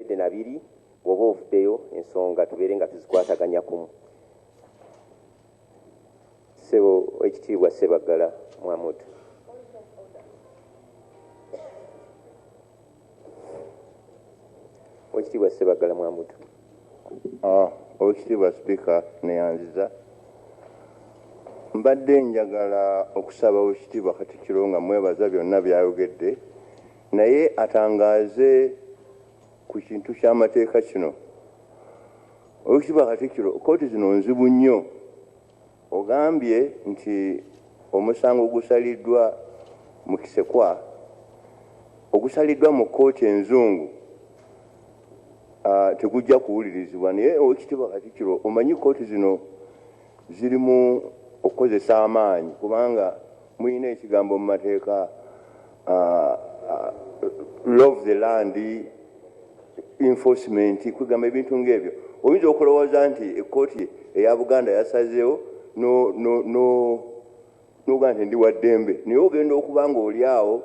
Obwedde na biri bwoba ovudeyo ensonga tubeere nga tuzikwataganya kumu. Ssebo Owekitiibwa Ssebaggala Muhamud. Owekitiibwa Ssebaggala Muhamud. Owekitiibwa Sipiika neyanziza. Mbadde njagala okusaba Owekitiibwa Katikkiro nga mwebaza byonna byayogedde. naye atangaaze ku kintu ky'amateeka kino. Owekitiibwa Katikkiro, kkooti zino nzibu nnyo. Ogambye nti omusango ogusaliddwa mu Kisekwa ogusaliddwa mu kkooti enzungu tegujja kuwulirizibwa naye Owekitiibwa Katikkiro omanyi kkooti zino zirimu okukozesa amaanyi kubanga mulina ekigambo mu mateeka uh, uh, love the land enforcement kwegamba ebintu ngaebyo oyinza okulowooza nti ekkooti eya buganda yasazeewo nogaa nti ndi waddembe naye ogenda okuba nga oli awo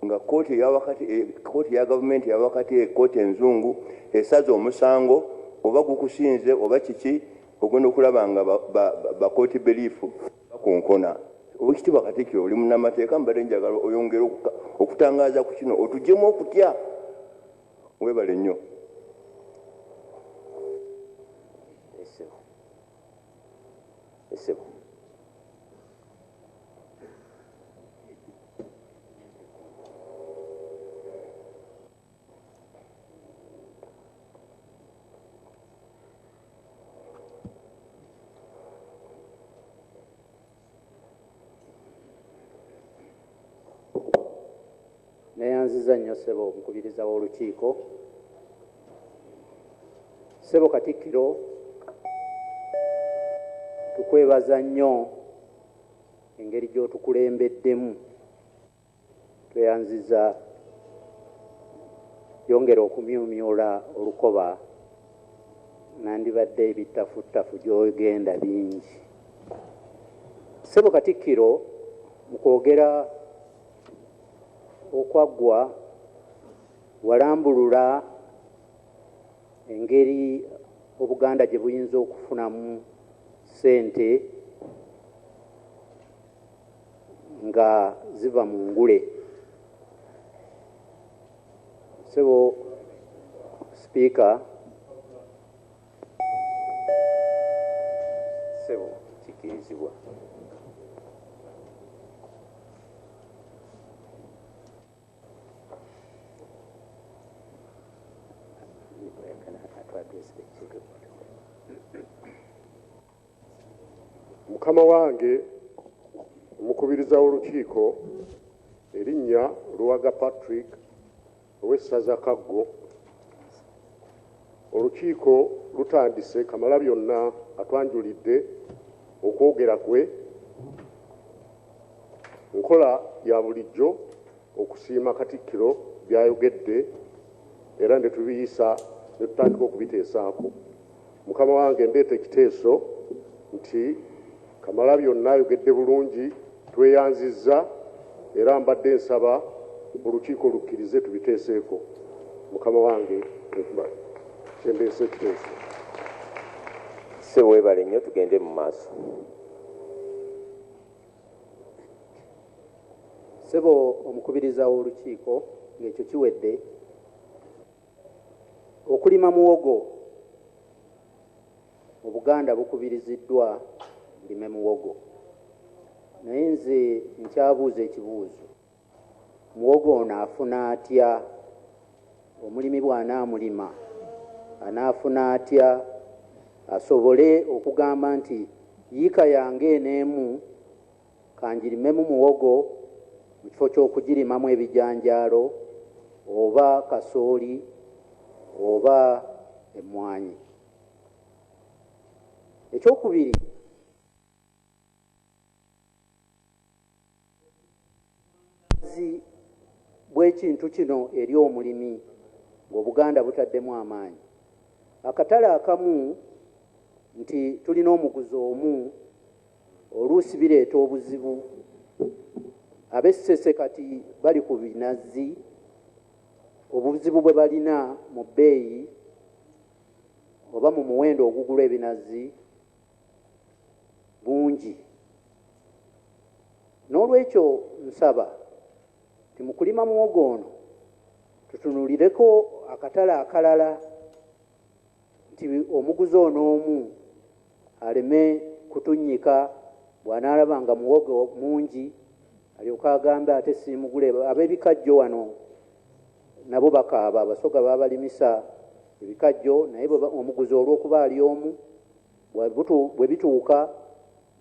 nga kooti eyawakati eh, kooti ya gavumenti yawakati ekooti eh, enzungu esaza omusango oba gukusinze oba kiki ogenda okulaba nga bakooti beliifu ba, ba, ba Bakonkona. Owekitibwa Katikiro oli munamateeka mbadde njagala oyongere okutangaaza ku kino otujemu okutya. Webale nnyo. Ssebo. neyanziza nnyo sebo omukubiriza w'olukiiko sebo katikkiro tukwebaza nnyo engeri gy'otukulembeddemu Tweyanziza yongera okumyumyula olukoba nandibadde ebittafuttafu gyogenda bingi. Ssebo Katikkiro mu kwogera okwaggwa walambulula engeri Obuganda gye buyinza okufunamu ssente nga ziva mu ngule sebo sipiika sebo kikirizibwa Mukama wange Omukubiriza w'Olukiiko erinnya Luwaga Patrick ow'essaza Kaggo, Olukiiko lutandise. Kamalabyonna atwanjulidde okwogera kwe nkola ya bulijjo okusiima Katikkiro by'ayogedde era ne tubiyisa ne tutandika okubiteesaako. Mukama wange ndeeta ekiteeso nti Kamalabyonna ayogedde bulungi, tweyanzizza era mbadde nsaba olukiiko lukkirize tubiteeseeko. Mukama wange kyendeese ekiteeso. Ssebo weebale nnyo tugende mu maaso. Ssebo omukubiriza w'olukiiko ng'ekyo kiwedde. Okulima muwogo, Obuganda bukubiriziddwa bulime muwogo naye nze nkyabuuza ekibuuzo, muwogo ono afuna atya? Omulimi bw'anaamulima anaafuna atya asobole okugamba nti yiika yange eno emu Ka ngirimemu muwogo mu kifo ky'okugirimamu ebijanjaalo oba kasooli oba emmwanyi. Ekyokubiri. Obwagazi bw'ekintu kino eri omulimi ng'Obuganda butaddemu amaanyi. Akatale akamu nti tulina omuguzi omu oluusi bireeta obuzibu. Ab'e Ssese kati bali ku binazzi, obuzibu bwe balina mu bbeeyi oba mu muwendo ogugulwa ebinazzi bungi. N'olwekyo nsaba nti mu kulima muwogo ono tutunuulireko akatale akalala nti omuguzi ono omu aleme kutunnyika bw'anaalaba nga muwogo mungi alyoke agambe ate siimugule. Ab'ebikajjo wano nabo bakaaba, Abasoga babalimisa ebikajjo naye omuguzi olw'okuba ali omu bwe bituuka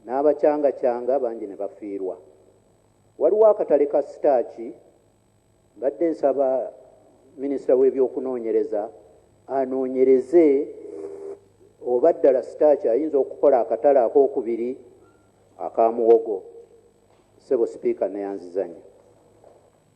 n'abacangacanga bangi ne bafiirwa. Waliwo akatale ka sitaaki, mbadde nsaba minisita w'ebyokunoonyereza anoonyereze oba ddala sitaaki ayinza okukola akatale ak'okubiri aka muwogo. Ssebo Sipiika nneeyanzizanyo.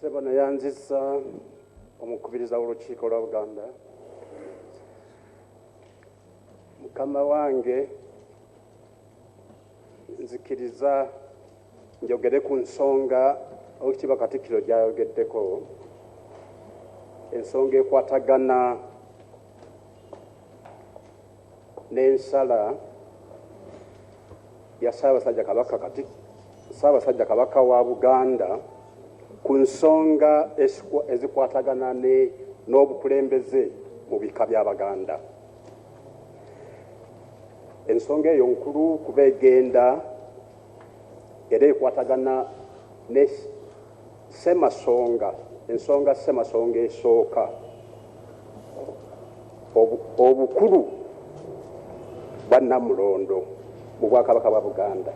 sebano yanzisa omukubiriza w'olukiiko lwa buganda mukama wange nzikiriza njogere ku nsonga owekitiibwa katikkiro gyayogeddeko ensonga ekwatagana n'ensala ya Ssaabasajja Kabaka Kati Ssaabasajja Kabaka wa Buganda ku nsonga ezikwatagana n'obukulembeze mu bika bya Baganda. Ensonga eyo nkulu kuba egenda era ekwatagana ne Ssemasonga, ensonga Ssemasonga esooka, obukulu bwa Nnamulondo mu Bwakabaka bwa Buganda.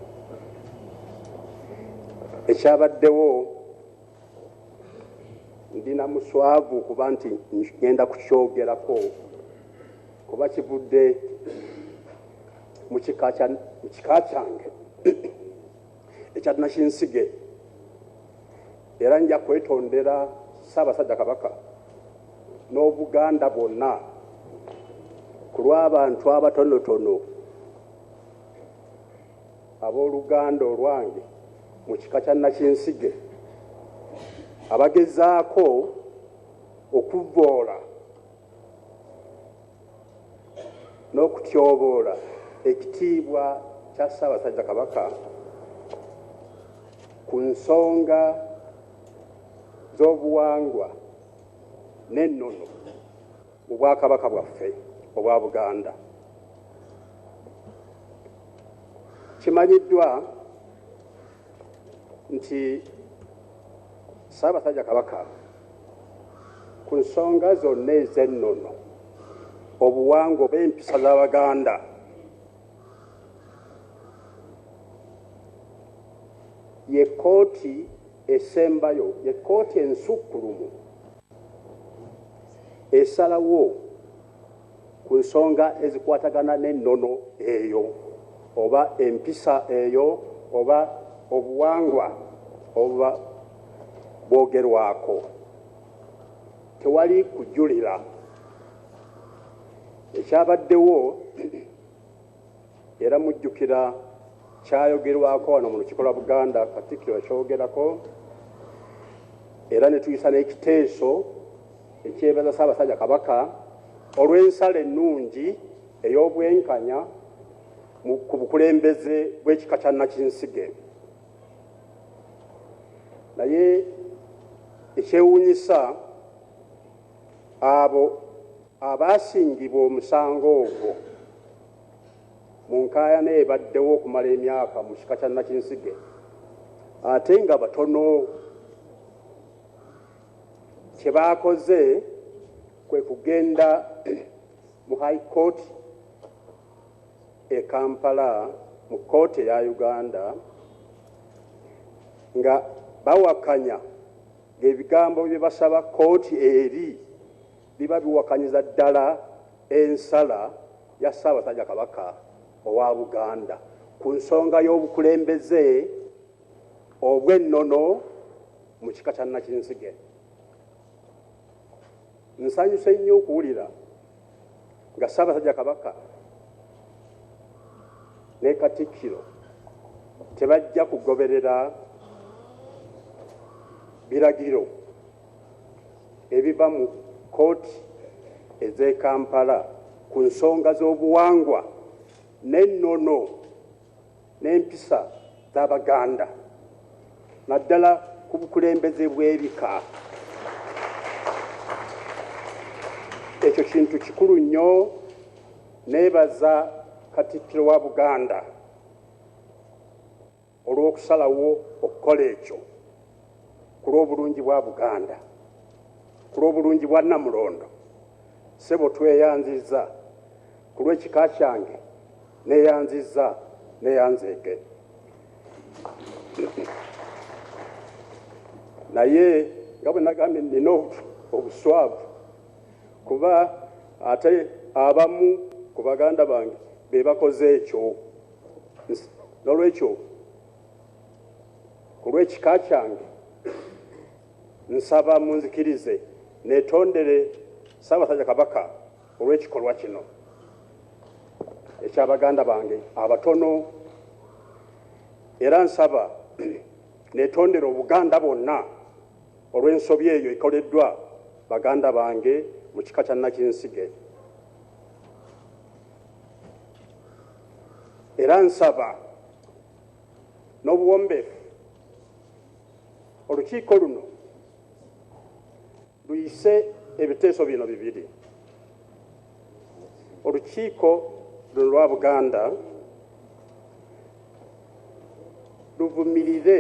Ekyabaddewo, ndi na muswavu okuba nti ngenda kukyogerako kuba kivudde mu kika kyange. ekya Nakinsige era nja kwetondera Ssaabasajja Kabaka n'Obuganda bwonna ku lw'abantu abatonotono ab'oluganda olwange mu kika kya Nakinsige abagezaako okuvvoola n'okutyoboola ekitiibwa kya Ssaabasajja Kabaka ku nsonga z'obuwangwa n'ennono mu Bwakabaka bwaffe obwa Buganda. Kimanyiddwa nti Ssaabasajja Kabaka ku nsonga zonna ez'ennono, obuwangwa oba empisa z'Abaganda. Ye kkooti esembayo, ye kkooti ensukkulumu esalawo. ku nsonga ezikwatagana n'ennono eyo oba empisa eyo oba obuwangwa obuba bwogerwako. Tewali kujulira ekyabaddewo. Era mujjukira kyayogerwako wano mu Lukiiko lwa Buganda, Katikkiro yakyogerako era ne tuyisa n'ekiteeso ekyebaza Ssaabasajja Kabaka olw'ensala ennungi ey'obwenkanya ku bukulembeze bw'ekika kya Nakinsige. Naye ekyewuunyisa Abo abaasingibwa omusango ogwo mu nkaayana ebaddewo okumala emyaka mu kika kya Nakinsige ate nga batono kye baakoze kwe kugenda mu High Court e Kampala mu kkooti eya Uganda nga bawakanya ng'ebigambo bye basaba kkooti eri biba biwakanyiza ddala ensala ya Ssaabasajja Kabaka owa Buganda ku nsonga y'obukulembeze obw'ennono mu kika kya Nakinsige. Nsanyuse nnyo okuwulira. nga Ssaabasajja Kabaka ne Katikkiro tebajja kugoberera biragiro ebiva mu kkooti ez'e Kampala ku nsonga z'obuwangwa n'ennono. n'empisa z'Abaganda naddala ku bukulembeze bw'ebika. Ekyo kintu kikulu nnyo. Neebaza Katikkiro wa Buganda olw'okusalawo okukola ekyo ku lw'obulungi bwa Buganda, ku lw'obulungi bwa Nnamulondo. Ssebo tweyanzizza. Ku lw'ekika kyange neyanzizza neyanzeege naye nga bwe nagambye nina obuswavu kuba ate abamu ku baganda bange be bakoze ekyo n'olwekyo ku lw'ekika kyange nsaba munzikirize netondere ssaabasajja kabaka Olw'ekikolwa kino ekya baganda bange abatono era nsaba netondera Obuganda bwonna olw'ensobi eyo ekoleddwa baganda bange mu kika kya Nakinsige era nsaba n'obuwombeefu olukiiko luno luyise ebiteeso bino bibiri olukiiko luno lwa buganda luvumirire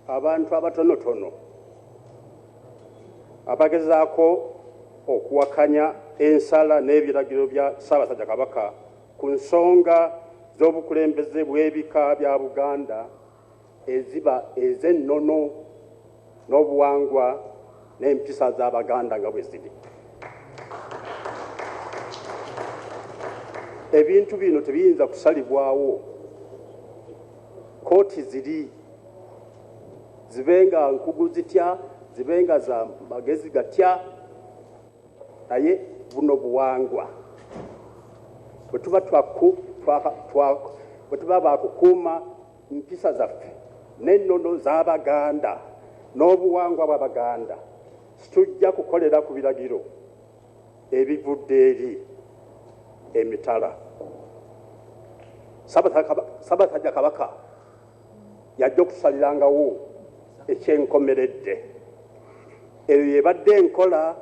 abantu abatonotono abagezaako okuwakanya ensala n'ebiragiro bya ssaabasajja kabaka ku nsonga z'obukulembeze bw'ebika bya buganda eziba ez'ennono n'obuwangwa n'empisa z'Abaganda nga bwe ziri. Ebintu bino tebiyinza kusalibwawo kkooti ziri zibe nga nkugu zitya zibe nga za magezi gatya naye buno buwangwa bwetuba bwetuba bakukuuma mpisa zaffe n'ennono z'abaganda n'obuwangwa bw'abaganda situjja kukolera ku biragiro ebivudde eri emitala sabasajja kabaka y'ajja okusalirangawo ekyenkomeredde. Eyo y'ebadde enkola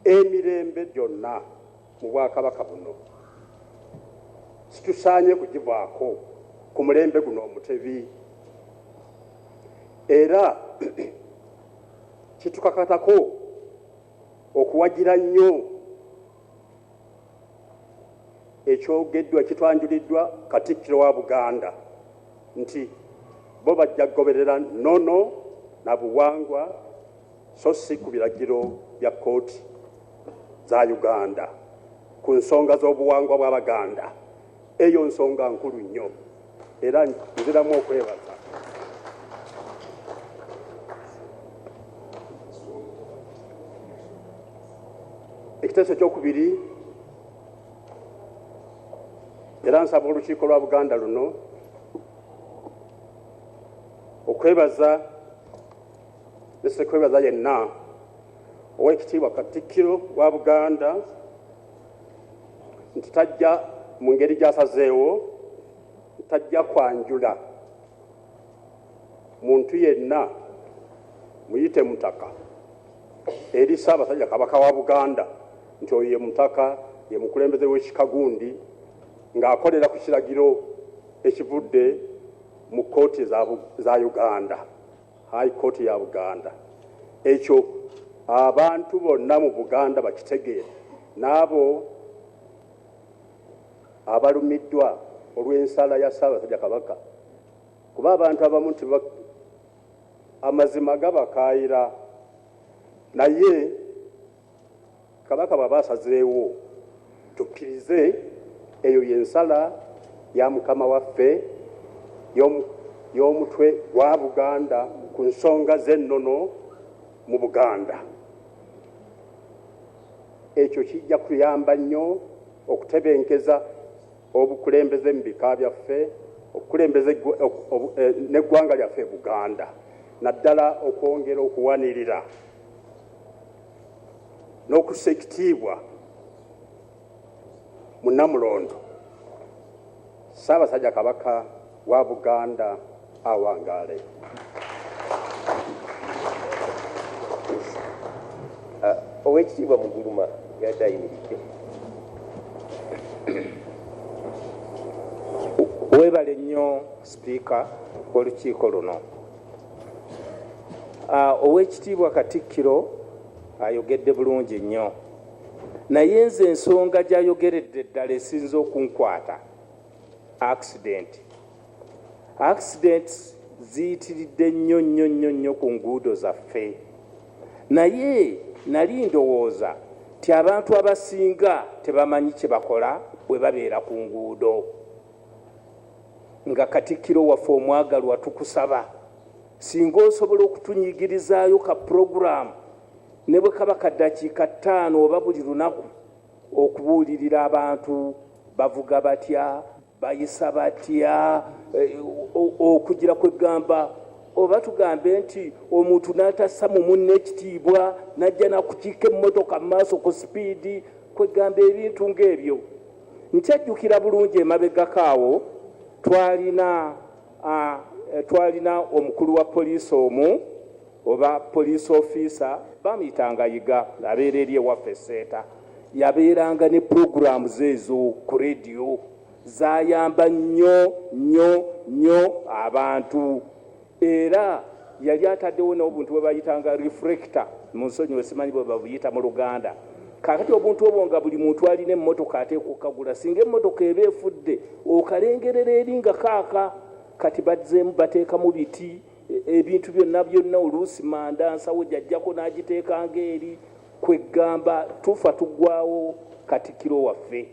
emirembe gyonna mu Bwakabaka buno. Situsaanye kugivaako ku mulembe guno Omutebi. Era kitukakatako okuwagira nnyo. Ekyogeddwa kitwanjuliddwa Katikkiro wa Buganda nti bo bajja kugoberera nnono na buwangwa so si ku biragiro bya kkooti za Uganda ku nsonga z'obuwangwa bw'Abaganda. Eyo nsonga nkulu nnyo era nziramu okwebaza ekiteeso ekyokubiri era nsaba olukiiko lwa buganda luno okwebaza nesekwebaza yenna owekitiibwa katikkiro wa buganda nti tajja mu ngeri gy'asazeewo tajja kwanjula muntu yenna muyite mutaka eri Ssaabasajja Kabaka wa Buganda nti oyo ye mutaka ye mukulembeze w'ekika gundi ng'akolera ku kiragiro ekivudde mu kkooti za Uganda. High Court ya Buganda. Ekyo abantu bonna mu Buganda bakitegeere n'abo abalumiddwa olw'ensala ya Ssaabasajja Kabaka kuba abantu abamu nti amazima gabakaayira naye Kabaka bwaba asazeewo tukkirize eyo yensala ya mukama waffe y'omutwe gwa Buganda ku nsonga z'ennono mu Buganda. Ekyo kijja kuyamba nnyo okutebenkeza obukulembeze mu bika byaffe okukulembeza eh, n'eggwanga lyaffe Buganda naddala okwongera okuwanirira n'okussa ekitiibwa mu Namulondo Ssaabasajja Kabaka wa Buganda awangaale. Ah, Oweekitiibwa Muguluma yadde ayimiridde. Weebale nnyo Sipiika w'olukiiko luno. Ah, owekitiibwa katikkiro ayogedde bulungi nnyo naye nze ensonga gyayogeredde ddala esinza okunkwata accident accident ziyitiridde nnyo nnyo nnyo nnyo ku nguudo zaffe naye nali ndowooza ti abantu abasinga tebamanyi kyebakola bwe babeera ku nguudo Nga Katikkiro waffe omwagalwa tukusaba singa osobola okutunyigirizaayo ka pulogulaamu ne bwe kaba ka ddakiika ttaano oba buli lunaku okubuulirira abantu bavuga batya, bayisa batya okugira kwe ggamba oba tugambe nti omuntu n'atassa mu munne ekitiibwa n'ajja n'akukiika emmotoka mu maaso ku sipiidi kwe ggamba ebintu ng'ebyo. Nkyejjukira bulungi emabegako awo twalina eh, twalina omukulu wa poliisi omu oba poliisi ofiisa bamuyitanga yiga abeera eri ewaffe seeta yabeeranga ne puroguramu ze ezo ku rediyo zayamba nnyo nnyo nnyo abantu Era yali ataddewo n'obuntu bwe bayitanga reflector, munsonyiwe simanyi bwe babuyita mu Luganda. Kaakati obuntu obwo nga buli muntu alina emmotoka ateekwa okukagula, singa emmotoka eba efudde okalengerera eri nga kaaka. Kati bazzeemu bateekamu biti, e, ebintu byonna byonna, oluusi manda nsawo gy'aggyako n'agiteekanga eri, kwe ggamba tufa tugwawo Katikkiro waffe.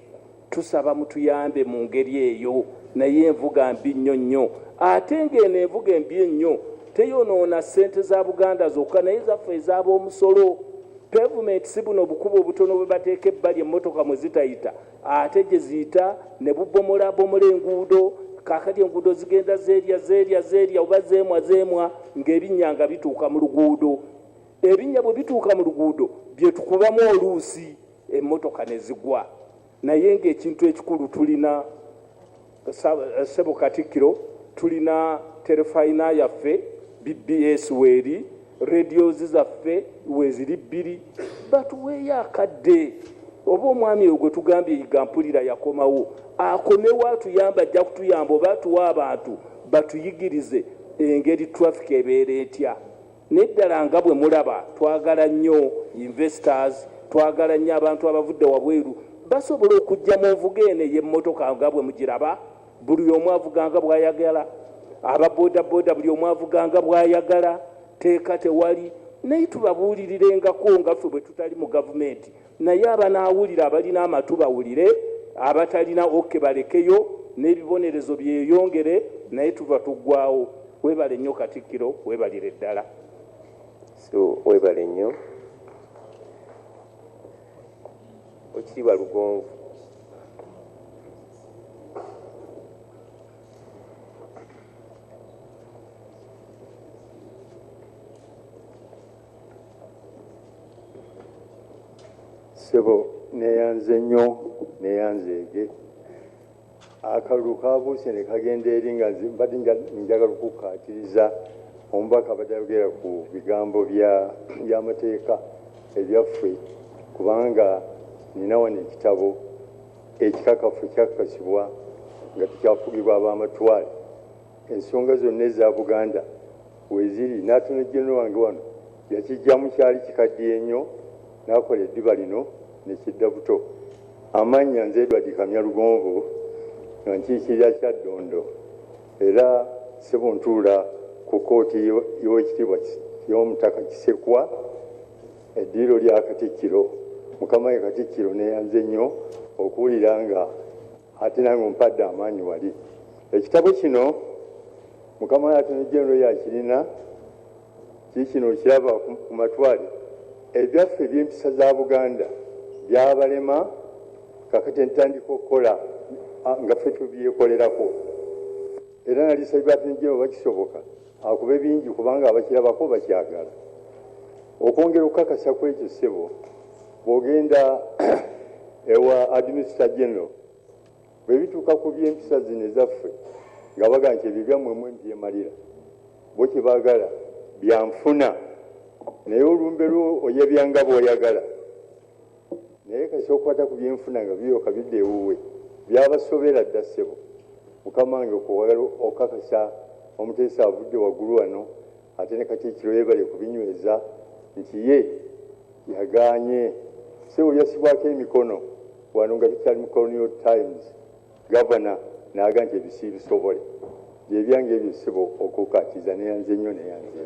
Tusaba mutuyambe mu ngeri eyo. Naye envuga mbi nnyo nnyo. Ate ng'eno envuga embi ennyo teyonoona ssente za Buganda zokka naye zaffe ez'aboomusolo. Pevumenti si buno bukubo obutono bwe bateeka ebbali emmotoka mwe zitayita ate gye ziyita ne bubomolaabomola enguudo. Kaakati enguudo zigenda zeerya zeerya zeerya oba zeemwa zeemwa ng'ebinnya nga bituuka mu luguudo. Ebinnya bwe bituuka mu luguudo bye tukubamu oluusi. emmotoka ne zigwa naye ng'ekintu ekikulu tulina ssebo Katikkiro tulina terefayina yaffe BBS weeri radiozi zaffe weeziri bbiri batuweeyo akadde oba omwami oyo gwe tugambye yiga mpulira yakomawo akomewo atuyamba ajja kutuyamba oba atuwa abantu batuyigirize engeri traffic ebeera etya Naye ddala nga bwe mulaba twagala nnyo investors, twagala nnyo abantu abavudde wabweru, basobola okujja mu nvuga eno ey'emmotoka nga bwe mugiraba, buli omu avuga nga bw'ayagala, aba bodaboda buli omu avuga nga bw'ayagala, tteeka tewali, naye tubabuulirirenga ko nga ffe bwe tutali mu gavumenti Naye abanaawulira abalina amatu bawulire, abatalina ok balekeyo n'ebibonerezo byeyongere naye tuva tuggwaawo. Webale nnyo Katikkiro webalire ddala. So webale nnyo Oweekitiibwa Lugonvu. sebo neyanze nnyo neyanzeege akalulu kabuuse ne kagenda eri nga mbadde njagala okukkaatiriza omubaka abadde ayogera ku bigambo by'amateeka ebyaffe kubanga nina wano ekitabo ekikakafu ekyakakasibwa nga tekyafugibwa ab'amatwale Ensonga zonna eza Buganda weeziri n'ate ne Genero wange wano yakiggyamu kyali kikaddiye nnyo n'akola eddiba lino ne kidda buto. Amannya nze Edward Kamya Lugonvu nga nkiikirira Kyaddondo era Ssebo ntuula ku kkooti y'Owekitiibwa y'Omutaka Kisekwa eddiiro lya Katikkiro. Mukama wange Katikkiro neeyanze nnyo okuwulira nga. Ate nange ompadde amaanyi wali. Ekitabo kino mukama wange Attorney General yakirina kikino okiraba ku matwale ebyaffe ebyempisa za Buganda byabalema kakati entandika okukola nga ffe tubyekolerako era nalisabye Attorney General bakisoboka akube bingi kubanga abakirabako bakyagala. Okwongera okukakasa kwekyo ssebo. Bw'ogenda ewa Administrator General bwe bituuka ku by'empisa zino ezaffe nga bagamba nti ebyo byammwe mmwe mubyemalira, bo kye baagala bya nfuna naye olumbe lwo oyabya nga bw'oyagala naye kasita okwata ku byenfuna nga biryoka bidda ewuwe. Byabasobera dda ssebo. Mukama wange kwe wagala okukakasa omuteesa avudde waggulu wano. Ate ne Katikkiro yeebale kubinyweza nti ye yagaanye ssebo yassibwako emikono wano nga tukyali mu Colonial Times Gavana naaga nti ebyo siibisobole gyebyange ebyo ssebo okukakiza neyanze nnyo neyanze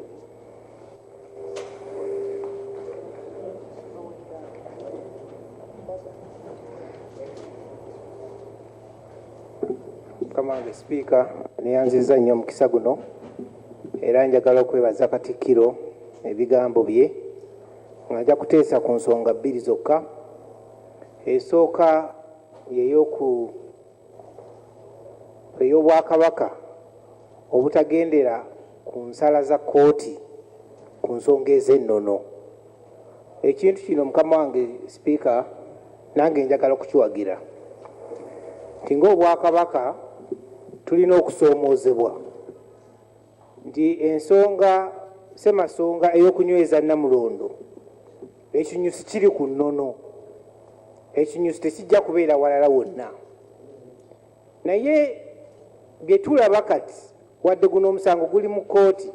Mukama wange Sipiika neyanziza nnyo omukisa guno. Era njagala okwebaza Katikkiro ebigambo bye nga nja kuteesa ku nsonga bbiri zokka. Esooka ye y'oku ey'Obwakabaka obutagendera ku nsala za kkooti ku nsonga ez'ennono. Ekintu kino mukama wange Sipiika nange njagala okukiwagira nti ng'Obwakabaka tulina okusoomoozebwa. nti ensonga ssemasonga ey'okunyweza Namulondo ekinyusi kiri ku nnono ekinyusi tekijja kubeera walala wonna naye bye tulaba kati wadde guno omusango guli mu kkooti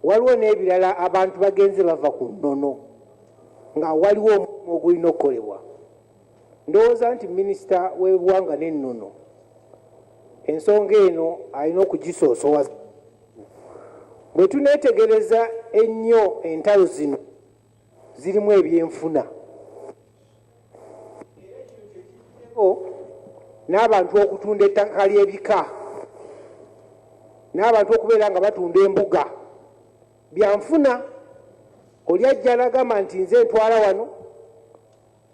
waliwo n'ebirala abantu bagenze bava ku nnono nga waliwo omulimu ogulina okukolebwa Ndowooza nti minisita w'ebiwanga n'ennono ensonga eno alina okugisoosowaza. Bwe tuneetegereza ennyo entalo zino zirimu ebyenfuna era kino kye kivuddeko n'abantu okutunda ettaka ly'ebika n'abantu okubeera nga batunda embuga. Byanfuna oli ajja n'agamba nti nze ntwala wano.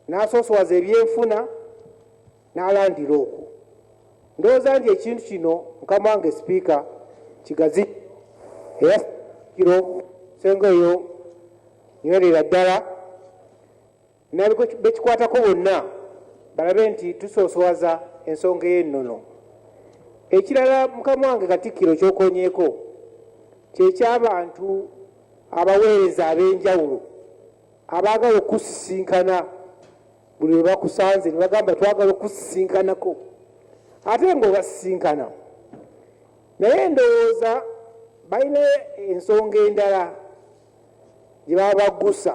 n'asoosowaza ebyenfuna n'alandira okwo. Ndowooza nti ekintu kino mukama wange Sipiika kigazi era kiro senga oyo nywerera ddala nabwe bekikwatako bonna balabe nti tusoosowaza ensonga ey'ennono. Ekirala mukama wange Katikkiro kyokonyeeko kyekyabantu abaweereza ab'enjawulo. Abaagala okukusisinkana buli lwe bakusanze ne bagamba twagala okukusisinkanako ate ng'obasisinkana naye ndowooza balina ensonga endala gye baba baggusa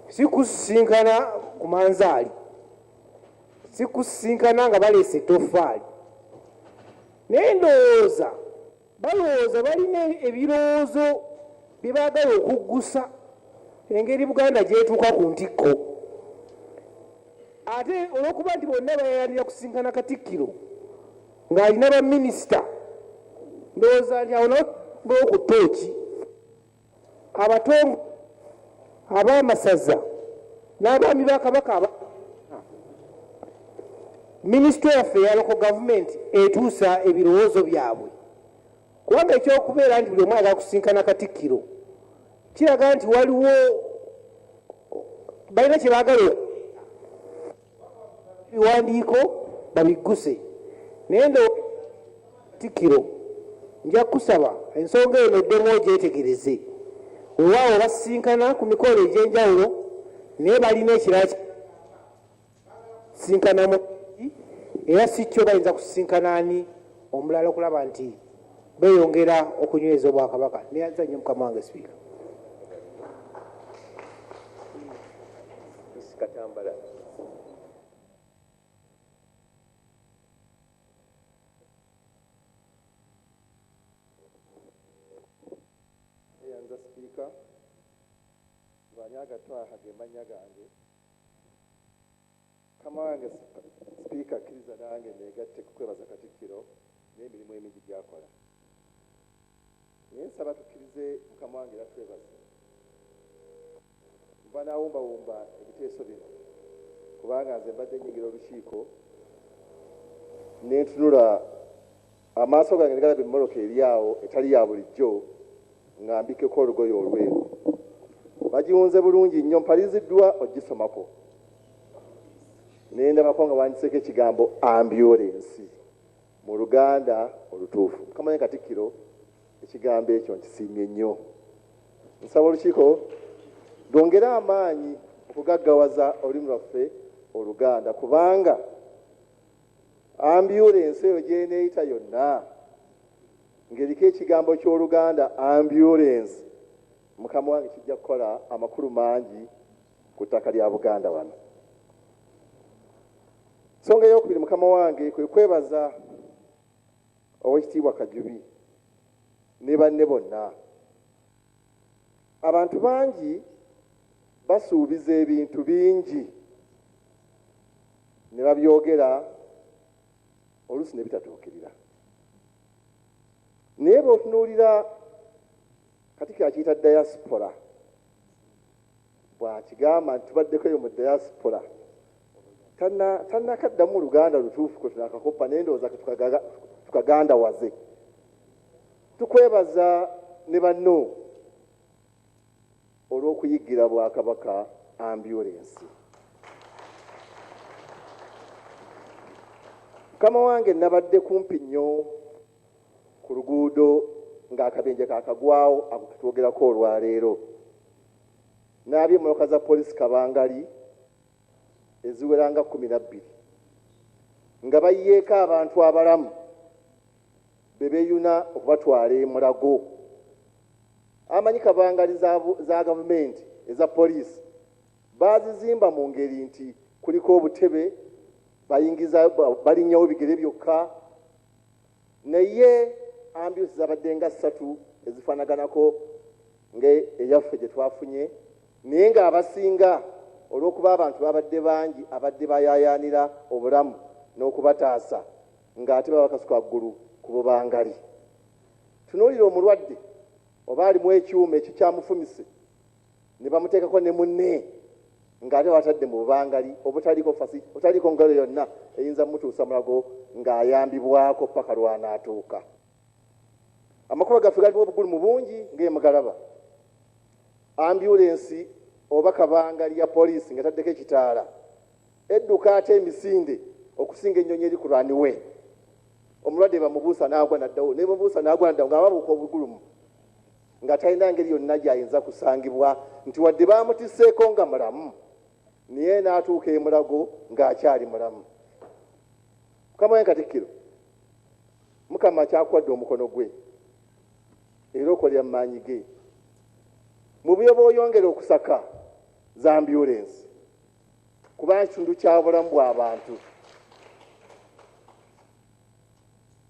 si kusisinkana ku manzaali sikusisinkana nga baleese ettoffaali naye ndowooza Balowooza balina ebirowoozo bye baagala okuggusa engeri Buganda gy'etuuka ku ntikko. Ate olw'okuba nti bonna bayayanira kusisinkana Katikkiro ng'alina baminisita, ndowooza nti awo nawo bawo ku ttooki. Abatongo ab'amasaza n'abaami ba Kabaka aba minisitule yaffe ya loko gavumenti etuusa ebirowoozo byabwe kubanga ekyokubeera nti buli omu ayagala kusinkana katikkiro kiraga nti waliwo balina kye baagala ebiwandiiko babigguse naye ndo Katikkiro nja kusaba ensonga eno eddemu ogyetegereze wewaawo basisinkana ku mikolo egy'enjawulo naye balina ekirala sisinkanamu era si kyo bayinza kusisinkana ani omulala okulaba nti Beyongera okunyweza obwakabaka. Neyanza nnyo mukama wange sipiika. Twaha ge mannya gange Mukama wange Sipiika kkiriza nange neegatte ku kwebaza Katikkiro n'emirimu emingi gy'akola. Naye nsaba tukkirize Mukama wange era twebaze nva n'awumbawumba ebiteeso bino kubanga nze mbadde nnyingira olukiiko ne ntunula Amaaso gange ne galaba emmoloka eri awo etali ya bulijjo nga mbikkeko olugoye olweru. Bagiwunze bulungi nnyo, mpaliriziddwa okugisomako ne ndabako nga bawandiseeko ekigambo ambyulensi mu Luganda olutuufu. Mukama ne Katikkiro ekigambo ekyo nkisiimye nnyo. Nsaba olukiiko lwongere amaanyi okugaggawaza olulimi lwaffe Oluganda kubanga Ambyulensi eyo gy'eneeyita yonna ng'eriko ekigambo ky'Oluganda ambyulensi, mukama wange kijja kukola amakulu mangi ku ttaka lya Buganda wano. Ensonga ey'okubiri mukama wange kwe kwebaza Oweekitiibwa Kajubi ne banne bonna. abantu bangi basuubiza ebintu bingi ne babyogera oluusi ne bitatuukirira naye bwotunuulira kati kyakiyita diaspora bw'akigamba nti tubaddeko eyo mu diaspora tannakaddamu luganda lutuufu kwe tunakakoppa naye ndowooza tukagandawaze tukwebaza ne banno olw'okuyiggira bwakabaka ambulensi mukama wange nabadde kumpi nnyo ku luguudo ng'akabenje kakagwawo ako ketwogerako olwaleero n'aby'emmotoka za poliisi kabangali eziwera nga kkumi na bbiri nga bayiyeeko abantu abalamu be beeyuna okubatwala e Mulago. Amanyi kabangali za, za gavumenti eza poliisi baazizimba mu ngeri nti kuliko obutebe balinyawo bigere byokka Naye ambulance zabadde nga ssatu ezifanaganako nga eyaffe gye twafunye naye ng'abasinga olw'okuba abantu babadde bangi abadde bayaayaanira obulamu n'okubataasa ng'ate baba bakasuka waggulu ku bubangali. Tunuulira omulwadde oba alimu ekyuma ekikyamufumise. ne bamuteekako ne munne ng'ate watadde mu bubangali obutaliko fasi otaliiko ngalo yonna eyinza mutuusa mulago ng'ayambibwako paka lwanaatuuka amakuba gaffe galimu obugulumu bungi ng'emugalaba ambyulensi oba kabangali ya poliisi nga taddeko ekitaala Edduka ate emisinde okusinga ennyonyi eri ku runway. Omulwadde bamubuusa n'agwa n'addawo, ne bamubuusa n'agwa n'addawo ng'ababuuka obugulumu nga talina ngeri yonna gy'ayinza kusangibwa nti wadde baamutisseeko nga mulamu naye n'atuuka e Mulago ng'akyali mulamu. Mukama wange Katikkiro, Mukama akyakuwadde omukono gwe era okolera mu maanyi ge. Mu byoba oyongera okusaka za ambyulensi kuba nkitundu kya bulamu bwa bantu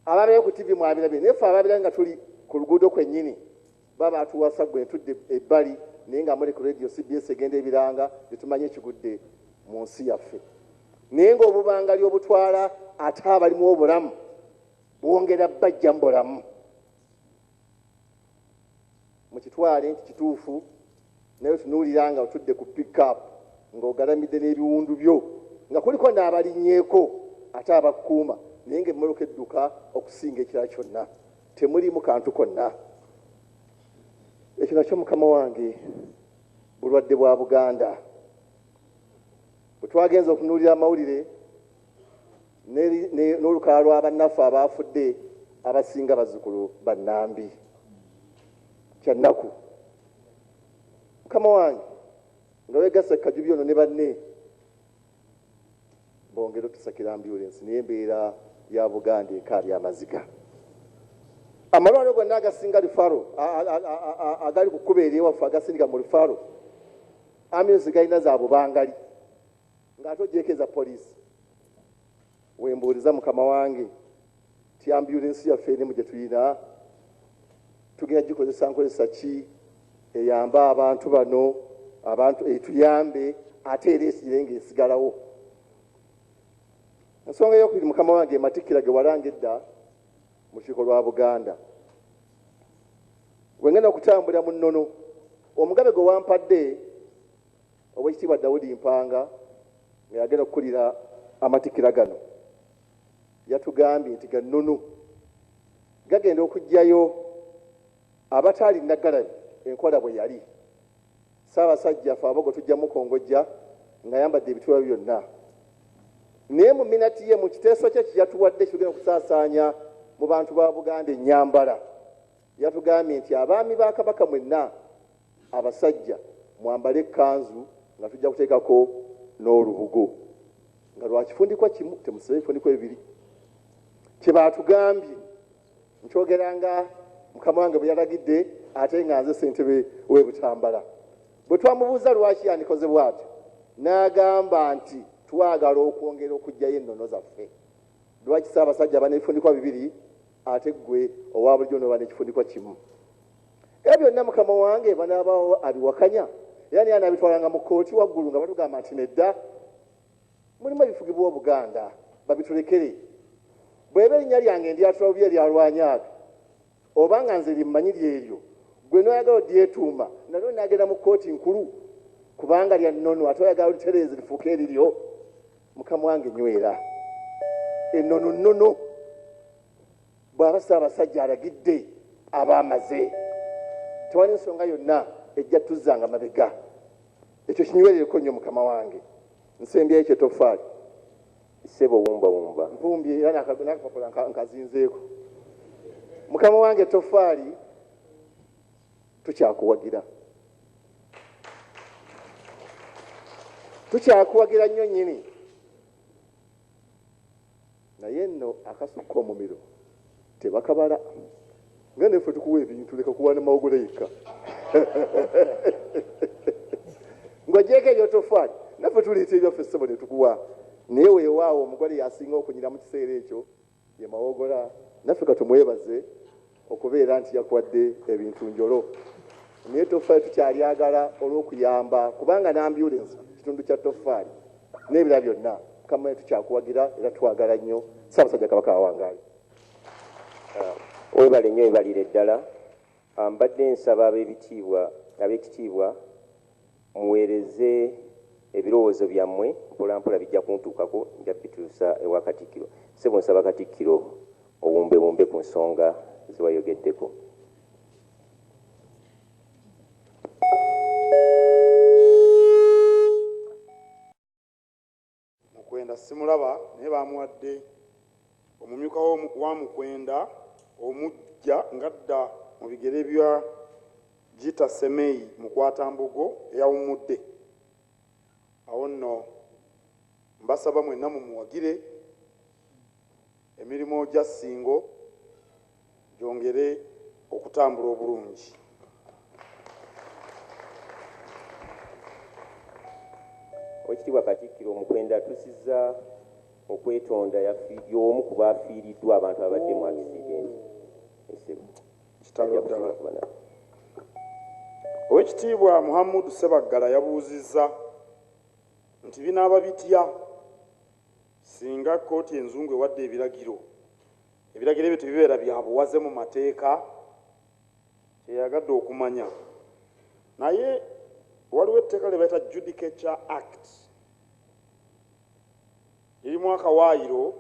ababeera ku tivi mwabirabye naye fe ababira nga tuli ku luguudo kwennyini baba atuwasa gwe ntudde ebbali naye nga muli ku radio cbs egenda ebiranga netumanyi ekigudde mu nsi yaffe naye ngaobubangali obutwala ate abalimu obulamu bwongera bajja mu bulamu mukitwale nti kituufu naye otunuulira nga otudde ku pickup ng'ogalamidde n'ebiwundu byo nga kuliko n'abalinyeeko ate abakkuuma naye nga emmoloka edduka okusinga ekirala kyonna temuliimu kantu konna ekyo nakyo mukama wange bulwadde bwa buganda bwe twagenza okunuulira amawulire n'olukalala lwa bannaffe abaafudde abasinga bazzukulu ba Nambi. Kya nnaku mukama wange nga weegasse Kajubi ono ne banne bongera otusakira ambyulensi naye embeera ya Buganda ekaabya amaziga. amalwaliro gonna agasinga lifaro agali ku kkuba eryewaffe agasindika mu lifaro amyuzi galina za bubangali Nga ate ogyeko eza police wembuuliza mukama wange ti ambulance yaffe erimu gyetuyina tugenda gikozesa nkozesa ki eyambe abantu bano abantu etuyambe ate era esire nga esigalawo ensonga eyokubiri mukama wange ematikkira ge walanga edda mu kiiko lwa buganda wengenda okutambulira mu nnono omugabe gwe wampadde Owekitiibwa Daudi Mpanga nga yagenda okukulira amatikira gano yatugambye nti gannunu gagenda okugyayo abataali nagalabi enkola bwe yali Ssaabasajja fe abogo tujja mukongojja nga yambadde ebituba byonna naye mu minati ye mu kiteeso kye kiyatuwadde kigenda okusaasaanya mu bantu ba Buganda ennyambala yatugambye nti abaami ba Kabaka mwenna Abasajja mwambale ekkanzu nga tujja kuteekako n'olubugo nga lwa kifundikwa kimu, temusibe ebifundikwa ebibiri. Kye baatugambye nkyogera nga mukama wange bwe yalagidde ate nga nze ssentebe w'e Butambala. Bwe twamubuuza lwaki yandikoze bw'atyo n'agamba nti twagala okwongera okuggyayo ennono zaffe. Lwaki Ssaabasajja aba n'ebifundikwa bibiri ate ggwe owa bulijjo n'oba n'ekifundikwa kimu? Era byonna mukama wange banaabawo abiwakanya, era naye anaabitwalanga mu kkooti waggulu nga batugamba nti nedda, mulimu ebifugibwa Obuganda, babitulekere. Bw'eba erinnya lyange ndyatula bubi eryalwanya abe, oba nga nze lye mmanyi lyeryo, ggwe n'oyagala olyetuuma, nalyo linaagenda mu kkooti nkulu, kubanga lya nnono, ate oyagala olitereeze lifuuke eriryo. Mukama wange nywera, ennono nnono. Bwaba Ssaabasajja alagidde aba amaze. Tewali nsonga yonna ejja tuzzanga mabega. Ekyo kinywerereko nnyo mukama wange. Nsembyayo kye toffaali. Ssebo wumbawumba. Nvumbye era n'akapapula nkazinzeeko. Mukama wange toffaali tukyakuwagira. Tukyakuwagira nnyo nnyini. Naye nno akasukka omumiro tebakabala nga naye ffe tukuwa ebintu leka kuwaana mawogola yekka ng'ogyeko ebyotofaali naffe tuleeta ebyaffe ssebo ne tukuwa naye weewaawo omugole yasinga okunyira mu kiseera ekyo ye mawogola naffe katumwebaze Okubeera nti yakuwadde ebintu njolo naye ettoffaali tukyalyagala olw'okuyamba kubanga n'ambyulensi kitundu kya ttoffaali n'ebirala byonna kamanya tukyakuwagira era twagala nnyo Ssaabasajja Kabaka awangaale. Webale nnyo webalire ddala. Mbadde nsaba ab'ebitiibwa ab'ekitiibwa. Muweereze ebirowoozo byammwe mpolampola bijja kuntuukako nja bituusa ewa Katikkiro. Ssebo nsaba Katikkiro obumbebumbe ku nsonga ze wayogeddeko. Mukwenda simulaba naye baamuwadde omumyuka wa Mukwenda omuggya ng'adda mu bigere bya Gita Semei Mukwatambogo eyawummudde. Awo nno mbasaba mwenna mumuwagire emirimu gya Ssingo gyongere okutambula obulungi. Owekitiibwa Katikkiro Mukwenda atusizza okwetonda y'omu ku baafiiriddwa abantu abadde mu akisidenti Kitalo ddala. Owekitiibwa Muhammud Ssebaggala yabuuzizza nti binaaba bitya singa kkooti enzungu ewadde ebiragiro Ebiragiro ebyo tebibeera bya buwaze mu mateeka, kye yayagadde okumanya. Naye waliwo etteeka lye bayita Judicature Act lirimu akawaayiro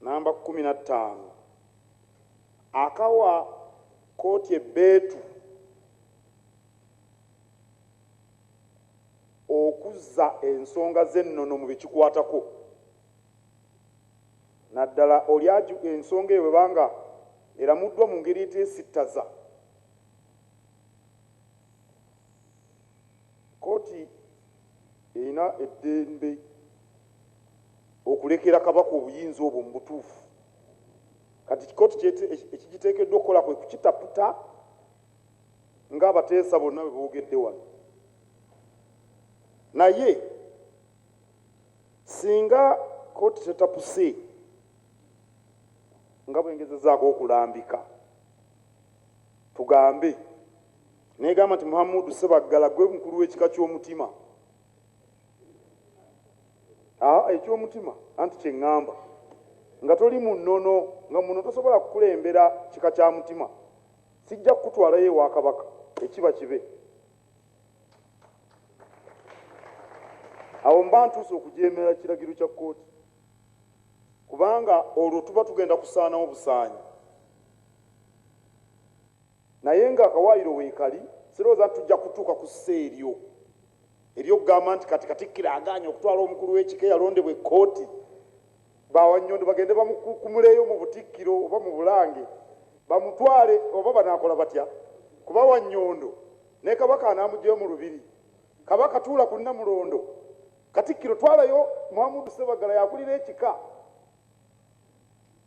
namba kkumi na ttaano akawa kkooti ebbeetu okuzza ensonga z'ennono mu bye kikwatako. Naddala oli aju ensonga eyo bweba nga eramuddwa mu ngeri etesittaza, kkooti erina eddembe okulekera Kabaka obuyinza obwo mu butuufu. Kati kkooti ekigiteekeddwa okukola kwe kukitaputa nga abateesa bonna bwe boogedde wano. Naye. singa kooti tetapuse nga bwengezezaako okulambika tugambe negamba nti muhamudu sebaggala gwe mukulu w'ekika ky'omutima ah, ekyomutima anti kyeŋŋamba nga toli mu nnono nga muno tosobola kukulembera kika kya mutima sijja kukutwalayo ewa kabaka ekiba kibe awo mba ntuuse okujeemera kiragiro kya kkooti kubanga olwo tuba tugenda kusaanawo busaanyi naye nga akawaayiro weekali sirowooza nti tujja kutuuka ku ssa eryo eryokugamba nti kati katikkiro agaanye okutwala omukulu w'ekika eyalondebwa ekkooti Ba Wannyondo bagende bamukukumuleeyo mu Butikkiro oba mu Bulange bamutwale oba banaakola batya kuba Wannyondo ne Kabaka anaamuggyayo mu Lubiri. Kabaka tuula ku Nnamulondo. Katikkiro twalayo Muhamudu Ssebaggala y'akulira ekika.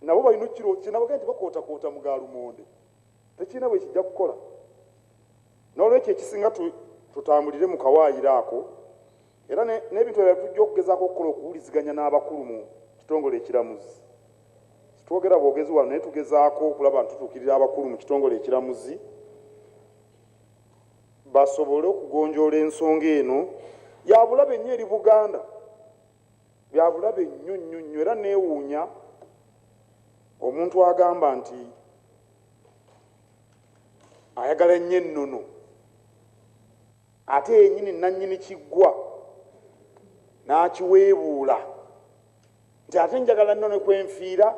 Nabo balina okukirowooza kye nabagambye nti bakootakoota mu ga lumonde tekirina bwe kijja kukola. Noolwekyo ekisinga tutambulire mu kawaayiro ako. Era n'ebintu ebirala tujja okugezaako okukola okuwuliziganya n'abakulu mu kitongole ekiramuzi. Sitwogera bwogezi wano naye tugezaako okulaba nti tutuukirira abakulu mu kitongole ekiramuzi basobole okugonjoola ensonga eno yabulabe nnyo eri Buganda, byabulabe nnyo nnyo nnyo era neewuunya omuntu agamba nti ayagala nnyo ennono. Ate yennyini nnannyini kiggwa n'akiweebuula nti ate njagala nno ne kwe nfiira.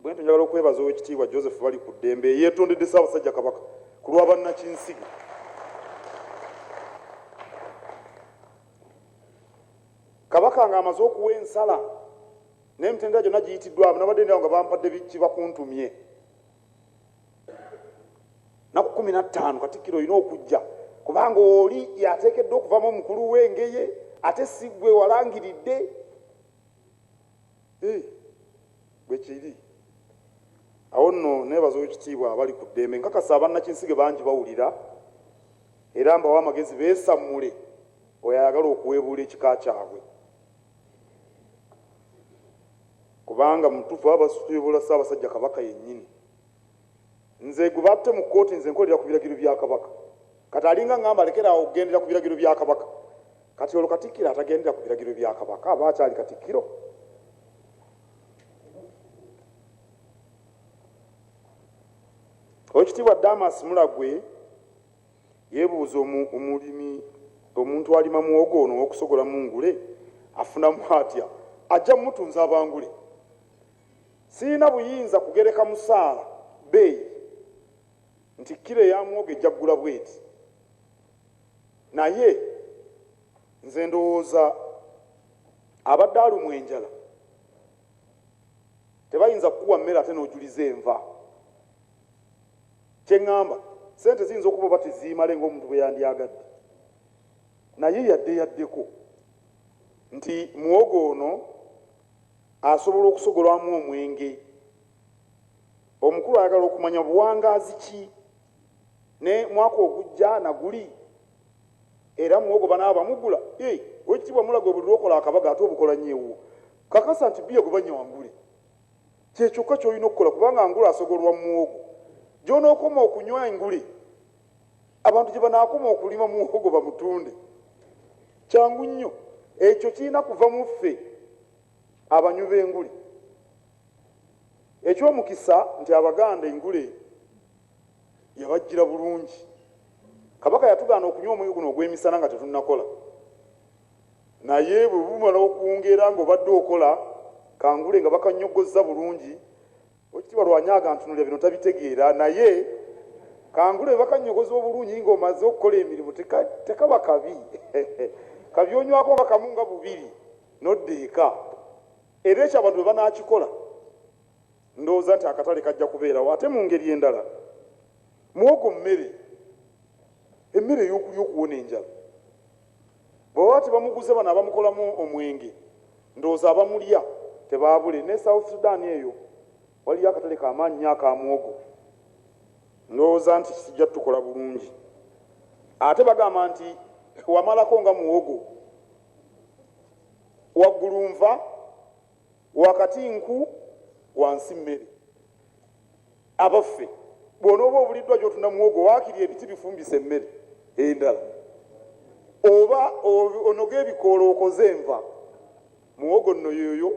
Bwentyo njagala okwebaza Oweekitiibwa Joseph Balikuddembe eyeetondedde Ssaabasajja Kabaka ku lwa bannakinsige. Kabaka ng'amaze okuwa ensala n'emitendera gyonna giyitiddwamu nabadde ndyawo nga bampadde kibakuntumye naku kumi na ttaano katikkiro olina okujja kubanga oli yateekeddwa okuvamu omukulu w'engeye ate si gwe walangiridde eh, bwe kiri awo nno neebaza owekitiibwa abali ku ddembe nkakasa abannakinsige bangi bawulira era mbawa amagezi beesammule oyo ayagala okuweebuula ekika kyabwe Kubanga mutufu abasusu tuyobola Ssabasajja Kabaka yenyini. Nze gwebatte mu kooti nze nkolera ku biragiro bya Kabaka. Kati alinga ngamba lekera awo okugendera ku biragiro bya Kabaka. Kati olwo Katikkiro atagendera ku biragiro bya Kabaka aba akyali Katikkiro? Owekitiibwa Damas Mulagwe. Yeebuuza omulimi, Omuntu alima muwogo ono ow'okusogolamu ngule afunamu atya? Ajja mmutunza abangule? Sirina buyinza kugereka musaala bbeeyi nti kkiro eya muwogo ejja kugula bw'eti. Naye nze ndowooza abadde alumwa enjala tebayinza kukuwa mmere ate n'ojuliza enva. Kye ŋŋamba, ssente ziyinza okuba oba teziimale ng'omuntu bwe yandyagadde, naye yadde yaddeko nti muwogo ono asobola okusogolwamu omwenge, omukulu ayagala okumanya buwangaazi ki ne mwaka ogujja na guli era muwogo banaaba bamugula? Ii, Oweekitiibwa Mulago buli lw'okola akabaga ate obukola nnyo ewuwo. Kakasa nti bbiya gwe bannya wangule. Kye kyokka ky'olina okukola kubanga ngule asogolwa muwogo. Gy'onookoma okunywa engule, abantu gye banaakoma okulima muwogo bamutunde. Kyangu nnyo. Ekyo kirina kuva mu ffe abanywi b'engule. Eky'omukisa nti Abaganda engule yabajjira bulungi. Kabaka yatugaana okunywa omwenge guno ogw'emisana nga tetunnakola. Naye bwe bumala okwongera nga obadde okola, kangule nga bakanyoggozza bulungi. Owekitiibwa Lwanya agantunulira bino tabitegeera naye kangule bwe bakannyogoza obulungi nga omaze okukola emirimu teka, tekaba kabi kabyonywako nga kamu nga bubiri nodda eka. Era ekyo abantu bwe banaakikola ndowooza nti akatale kajja kubeerawo. Ate mu ngeri endala, muwogo mmere, emmere ey'okulya okuwona enjala. Bwebaba tebamuguze bano abamukolamu omwenge ndowooza abamulya tebaabule. Ne South Sudan eyo waliyo akatale ka maanyi nnyo aka muwogo. Ndowooza nti kijja tukola bulungi. Ate bagamba nti wamalako nga muwogo waggulu nva. Wakati nku, wansi mmere. Abaffe, bw'onooba obuliddwa gy'otunda muwogo waakiri ebiti bifumbise emmere endala, oba onoge ebikoola okoze enva, muwogo nno y'oyo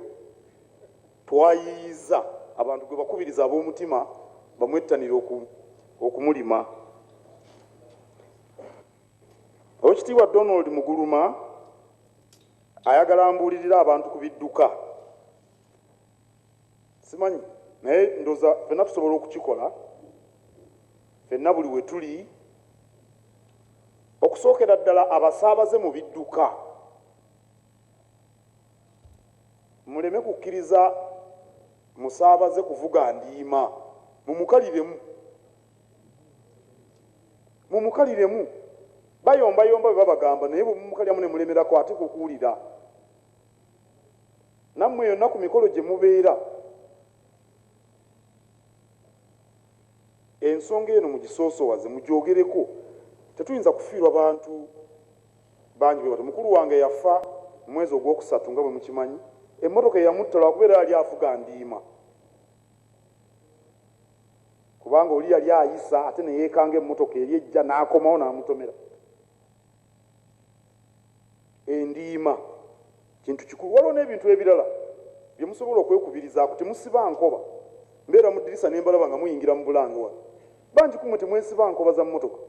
twayiiyizza abantu gwe bakubiriza ab'omutima bamwettanire okumulima. Owekitiibwa Donald Muguluma Ayagala mbuulirire abantu ku bidduka. Simanyi naye ndoza fenna tusobola okukikola fenna buli we tuli okusookera ddala abasaabaze mu bidduka muleme kukkiriza musaabaze kuvuga ndiima mumukaliremu. mumukaliremu bayombayomba bwe babagamba naye bwe mumukaliramu ne mulemerako ate kwe kuwulira nammwe yonna ku mikolo gye mubeera ensonga eno mugisoosowaze mugyogereko tetuyinza kufiirwa bantu bangi bwebati mukulu wange yafa omwezi ogwokusatu nga bwe mukimanyi emmotoka eyamuttala wakubeera yali avuga ndiima kubanga oli yali ayisa ate neyekanga emmotoka eri ejja n'akomawo n'amutomera endiima kintu kikulu waliwo n'ebintu ebirala bye musobola okwekubirizaako temusiba nkoba mbeera mu ddirisa ne mbalaba nga muyingira mu bulange wano bangi kumwe temwesiba nkoba za mmotoka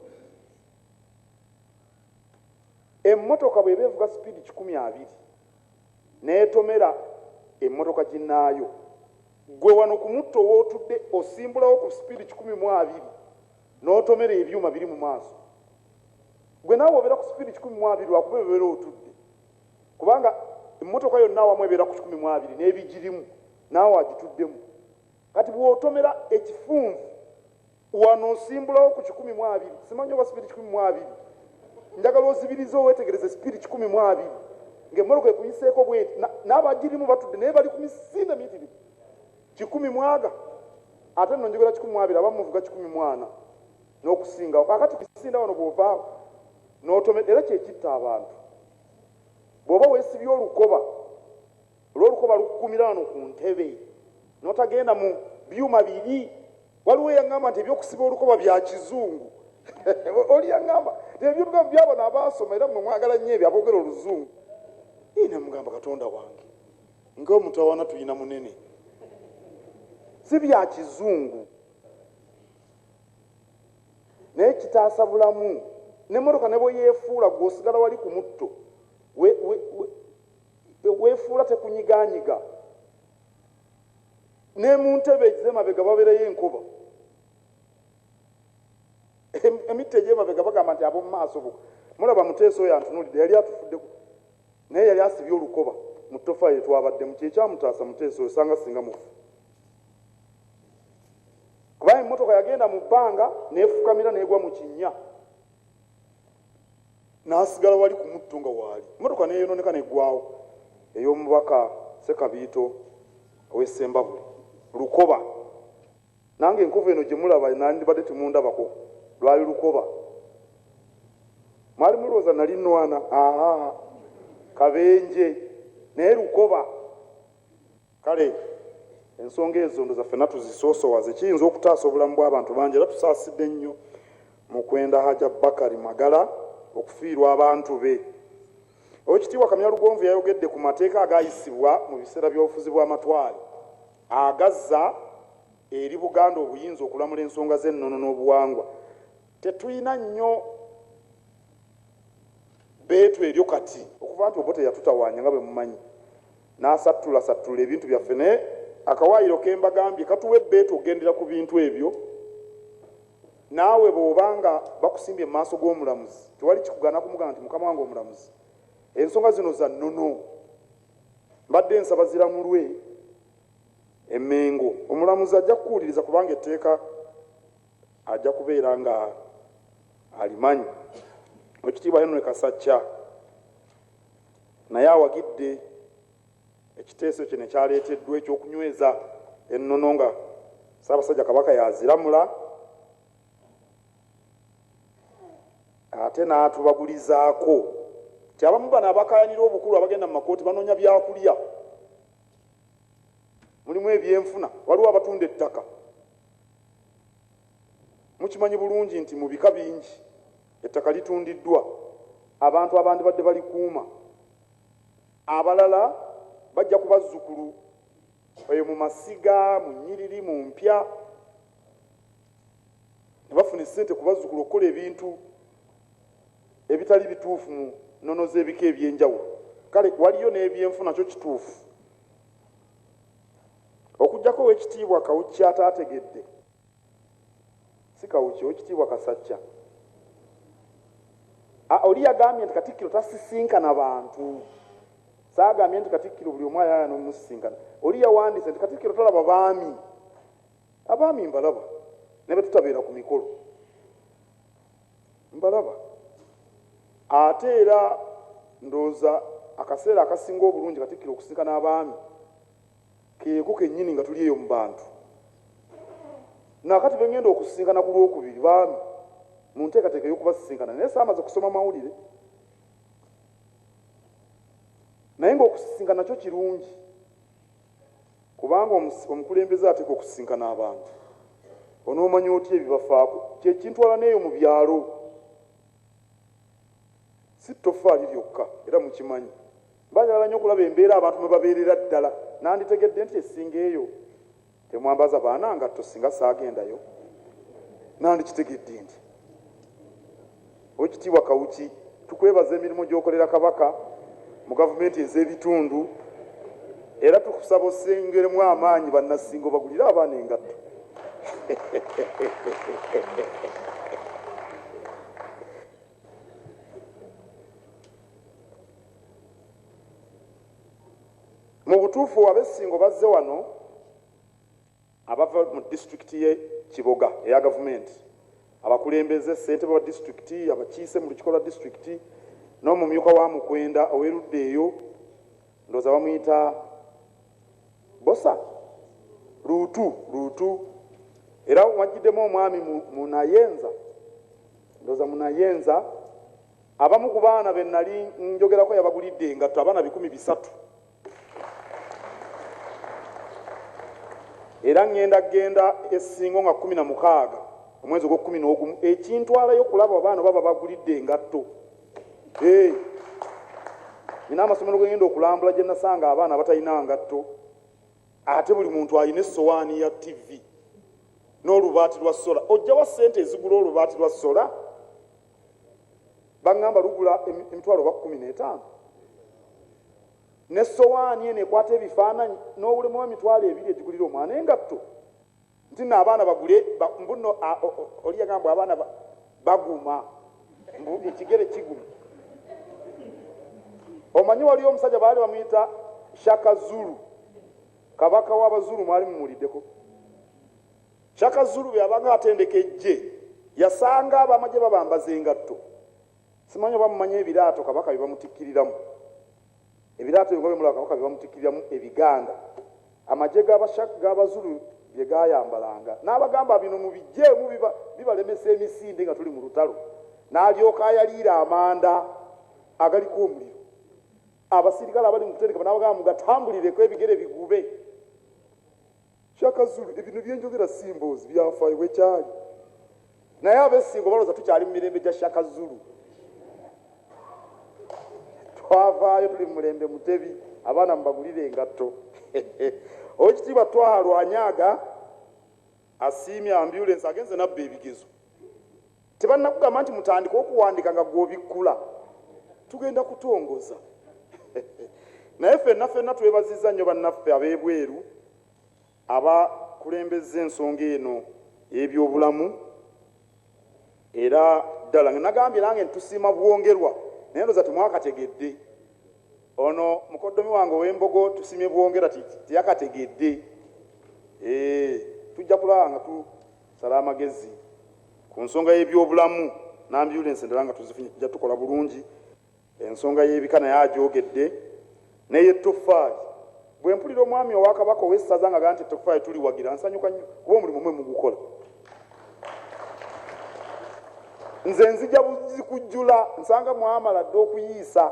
emmotoka bweba evuga sipiidi kikumi abiri netomera emotoka ginaayo gwe wano kumutto wotudde osimbulawo ku speed kikumi mu abiri notomera ebyuma biri mu maaso gwe naawe obeera ku speed kikumi mu abiri lwakuba ebeera otudde kubanga emotoka yonna awamu ebeera ku kikumi mu abiri nebigirimu naawe agituddemu kati bwotomera ekifunvu Wano nsimbulawo ku kikumi mu abiri. Simanyi oba sipiidi kikumi mu abiri. Njagala ozibirize owetegereze sipiidi kikumi mu abiri ng'emmotoka ekuyiseeko bweti na- n'abagirimu batudde naye bali ku misinde miyitirivu. Kikumi mu aga ate nno njogera kikumi mu abiri abamu muvuga kikumi mu ana n'okusingawo. Kaakati ku misinde wano bw'ovaawo n'otomera era kye kitta abantu. Bw'oba weesibye olukoba. Olw'olukoba lukugumira wano ku ntebe n'otagenda mu byuma biri. Waliwo eyangamba nti eby'okusiba olukoba bya kizungu. Oli yangamba nti ebintu bino by'abano abaasoma era mmwe mwagala nnyo ebyo aboogera oluzungu. Ii ne mmugamba, Katonda wange, ng'omutawaana tulina munene. Si bya kizungu. Naye kitaasa bulamu. N'emmotoka ne bwe yeefuula, ggwe osigala wali ku mutto. We, we, we. Bwe weefuula tekunyigaanyiga, ne mu ntebe ez'emabega babeerayo enkoba, emitti egy'emabega bagamba nti ab'omu maaso bo. Mulaba, Muteesa oyo antunuulidde, yali atufuddeko, naye yali asibye olukoba mu ttoffaali lye twabaddemu. Kye kyamutaasa Muteesa oyo, sanga singa mufu. Kuba emmotoka yagenda mu bbanga n'efukamira n'egwa mu kinnya. n'asigala wali ku mutto nga waali mmotoka n'eyonooneka n'eggwaawo ey'omubaka Ssekabiito ow'e Ssembabule, Lukoba. Nange enkovu eno gye mulaba nnandibadde temundabako, lwali lukoba. Mwali mulwooza nnali nnwana? Haa, kabenje naye lukoba. Kale ensonga ezo ndoza fena tuzisoosowaze kiyinza okutaasa obulamu bw'abantu bangi era tusaasidde nnyo mukwenda Haja Bakari Magala okufiirwa abantu be. Owekitiibwa Kamya Lugonvu yayogedde ku mateeka agaayisibwa mu biseera by'obufuzi bw'amatwale agazza eri Buganda obuyinza okulamula ensonga z'ennono n'obuwangwa. Tetulina nnyo bbeetu eryo kati. Okuva nti Obote yatutawaanya nga bwe mumanyi. N'asattulasattula ebintu byaffe naye akawaayiro ke mbagambye katuwa ebbeetu okugendera ku bintu ebyo. Naawe bw'oba nga bakusimbye mu maaso g'omulamuzi, tewali kikugaana kumugamba nti, Mukama wange omulamuzi, ensonga zino za nnono. Mbadde nsaba ziramulwe e Mmengo. Omulamuzi ajja kukuwuliriza kubanga etteeka ajja kubeera ng'alimanyi. Oweekitiibwa Henry Kasacca. naye awagidde ekiteeso kino ekyaleeteddwa eky'okunyweza ennono nga Ssaabasajja Kabaka y'aziramula ate n'atubagulizaako nti abamu bano abakaayanira obukulu abagenda mu makooti banoonya byakulya mulimu ebyenfuna waliwo abatunda ettaka mukimanyi bulungi nti mu bika bingi Ettaka litundiddwa abantu abandibadde balikuuma. Abalala bajja ku bazzukulu eyo mu masiga, mu nnyiriri, mu mpya ne bafuna essente ku bazzukulu okukola ebintu ebitali bituufu mu nnono z'ebika eby'enjawulo. Kale waliyo n'ebyenfuna kyo kituufu. Okuggyako Oweekitiibwa Kawuki ataategedde. si kawuki owekitiibwa kasajja ah, oli yagambye nti katikkiro tasisinkana bantu saagambye nti katikkiro buli omu ayayana omusisinkana oli yawandiise nti katikkiro talaba baami abaami mbalaba ne bwe tutabeera ku mikolo mbalaba ate era ndowooza akaseera akasinga obulungi katikkiro okusisinkana abaami Keeko kennyini nga tuli eyo mu bantu. Na kati be ŋŋenda okusisinkana ku Lwokubiri, baami, mu nteekateeka ey'okubasisinkana, naye saamaze kusoma mawulire. Naye nga okusisinkana kyo kirungi, kubanga omus, omukulembeze ateekwa okusisinkana abantu. Onoomanya otya ebibafaako? Kye kintwala n'eyo mu byalo. Si ttoffaali lyokka, era mukimanyi. Mbaagala nnyo okulaba embeera abantu mwe babeerera ddala. Nanditegedde ntya essinga eyo? Temwambaza baana ngatto singa saagendayo. Nandikitegedde ntya? Oweekitiibwa Kawuki, tukwebaza emirimu gy'okolera Kabaka mu gavumenti ez'ebitundu era tukusaba ossengeremu amaanyi Bannassinga obagulire abaana engatto. mu butuufu abessingo bazze wano abava mu disitulikiti ye kiboga eya gavumenti abakulembeze ssentebe wa disitulikiti abakiise mu lukiko lwa disitulikiti n'omumyuka wa mukwenda ow'erudda eyo ndooza bamuyita Bbosa luutu luutu era wajjiddemu omwami Munayenza ndoza Munayenza abamu ku baana be nali njogerako yabagulidde engatto abaana bikumi bisatu era ŋŋenda genda essingo nga kumi na mukaaga omwezi ogw'okkumi n'ogumu ekintwalayo okulaba abaana oba babagulidde engatto Hey. Nina amasomero gwe ngenda okulambula gye nasanga abaana abatalina ngatto ate buli muntu alina essowaani ya ttivi n'olubaati lwa sola. Ojjawa ssente ezigula olubaati lwa sola? Baŋŋamba lugula emitwalo oba kkumi n'etaano. N'essowaani eno ekwata ebifaananyi n'owulemu emitwalo ebiri egigulira omwana engatto. nti no abaana bagule mbuno oli yagamba mbu abaana baguma mbu ekigere kiguma omanyi waliyo omusajja baali bamuyita shaka zulu kabaka w'abazulu mwali mumuliddeko shaka zulu bweyabanga atendeka ejje yasanga abamagye babambaza engatto simanyi oba mumanyi ebiraato kabaka bye bamutikkiriramu Ebiraato bye muba bemula Kabaka bye bamutikkiriramu ebiganda amagye ga Bashak ga Bazulu bye gaayambalanga. N'abagamba bino mubiggyeemu biba bibalemesa emisinde nga tuli mu lutalo. N'alyoka ayaliira amanda agaliko omuliro. Abasirikale abali mu kutendekebwa n'abagamba mugatambulireko ebigere bigube. Shaka Zulu ebino byenjogera si mboozi byafaayo bwekyaali. Naye abessingo baloza tukyali mumirembe gya Shaka Zulu. Twavaayo tuli mumulembe mutebi abaana mubagulire engatto. Owekitiibwa Twaha Lwanyaga asiimye ambulance agenze nabba ebigezo. Tebannakugamba nti mutandike okuwandiika nga gwe obikkula? Tugenda kutongoza. Naye fenna fenna twebazizza nnyo bannaffe ab'ebweru abakulembezza ensonga eno y'ebyobulamu era ddala nga nagambye nange nti tusiima bwongerwa naye ndoza temwakategedde ono mukoddomi wange ow'embogo tusimye bwongera teyakategedde eh, tujja kulaba nga Sala amagezi ku nsonga y'ebyobulamu n'ambyulensi endala nga tuzifunye tujja tukola bulungi. Ensonga y'ebika naye agyogedde n'ey'ettoffaali. Bwe mpulira omwami owa Kabaka ow'essaza ng'agamba nti ettoffaali tuliwagira nsanyuka nnyo kuba omulimu mwe mugukola. Nze nzija buzzi kujjula nsanga mwamala dda okuyiisa.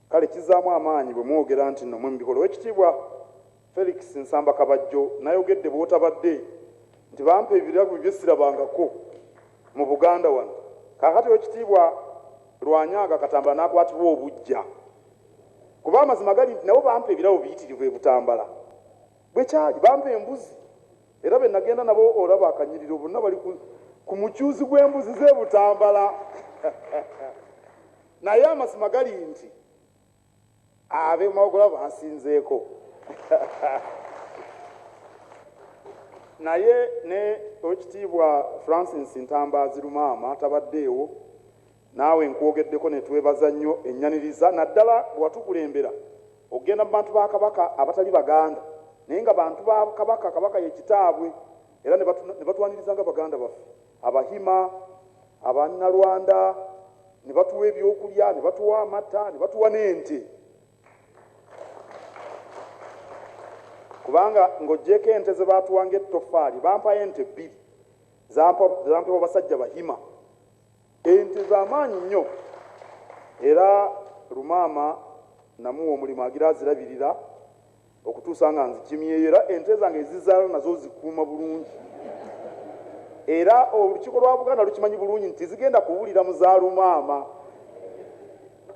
Kale kizaamu amaanyi bwe mwogera nti nno mwe mubikola. Owekitiibwa Felix Nsamba Kabajjo nayogedde bwotabadde nti bampa ebirabo bye sirabangako mu Buganda wano. Kaakati Owekitiibwa Lwanyaaga Katambala nakwatibwa obujja kuba amazima gali nti nabo bampa ebirabo biyitirivu e Butambala. Bwe kyali. Bampa embuzi era be nagenda nabo olaba akanyiriro bonna bali ku mucuuzi gw'embuzi ze Butambala. Naye amazima gali nti abe mawogola bansinzeeko naye ne owekitiibwa Francis Ntambaazi Lumaama tabaddeewo naawe nkwogeddeko ne twebaza nnyo ennyaniriza naddala bwe watukulembera okugenda mu bantu ba Kabaka abatali Baganda naye nga bantu ba Kabaka Kabaka ye kitaabwe era ne batwaniriza nga baganda baffe Abahima, Abanyarwanda ne batuwa ebyokulya, ne batuwa amata, ne batuwa n'ente. Kubanga ng'oggyeeko ente ze baatuwa ng'ettoffaali, bampayo ente bbiri zampebwa basajja Bahima. Ente za maanyi nnyo era Lumaama namuwa omulimu agira azirabirira. okutuusa nga nzikimyeyo era ente zange ezizaala nazo zikuuma bulungi era olukiiko lwa buganda lukimanyi bulungi nti zigenda kuwulira mu za lumaama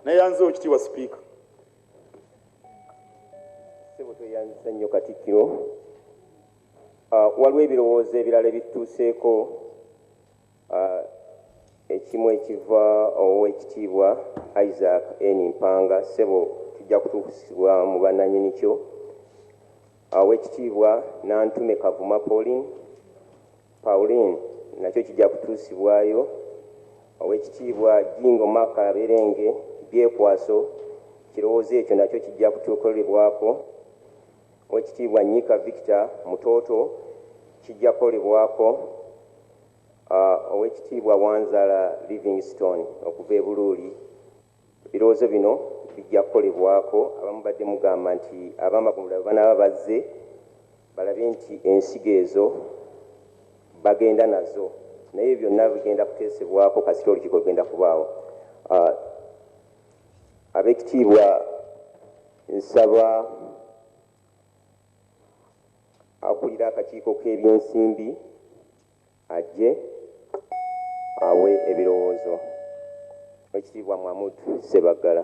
neyanzewo kitiibwa sipiika sebo tweyanzisa nnyo katikkiro ah, waliwo ebirowoozo ebirala ebitutuuseeko Ekimu ekiva ow'ekitiibwa Isaac N. Mpanga, ssebo kijja kutuusibwa mu bannanyini kyo. Ow'ekitiibwa Nantume Kavuma Pauline, Pauline, nakyo kijja kutuusibwayo. Ow'ekitiibwa Jingo Mark Kaberenge, Byekwaso, kirowoozo ekyo nakyo kijja kutukolebwako. Ow'ekitiibwa Nyika Victor, Mutooto, kijja kukolebwako. Owekitiibwa Wanzala Livingstone okuva e Buluuli, Ebirowoozo bino bijja kukolebwako abamubadde mugamba nti abamagombolola bwebanaaba bazze balabe nti ensigo ezo bagenda nazo naye ebyo byonna bigenda kuteesebwako kasita olukiiko lugenda kubaawo. Abekitiibwa nsaba Akulira akakiiko k'ebyensimbi ajje awe ebirowoozo. Oweekitiibwa Mahmood Ssebaggala.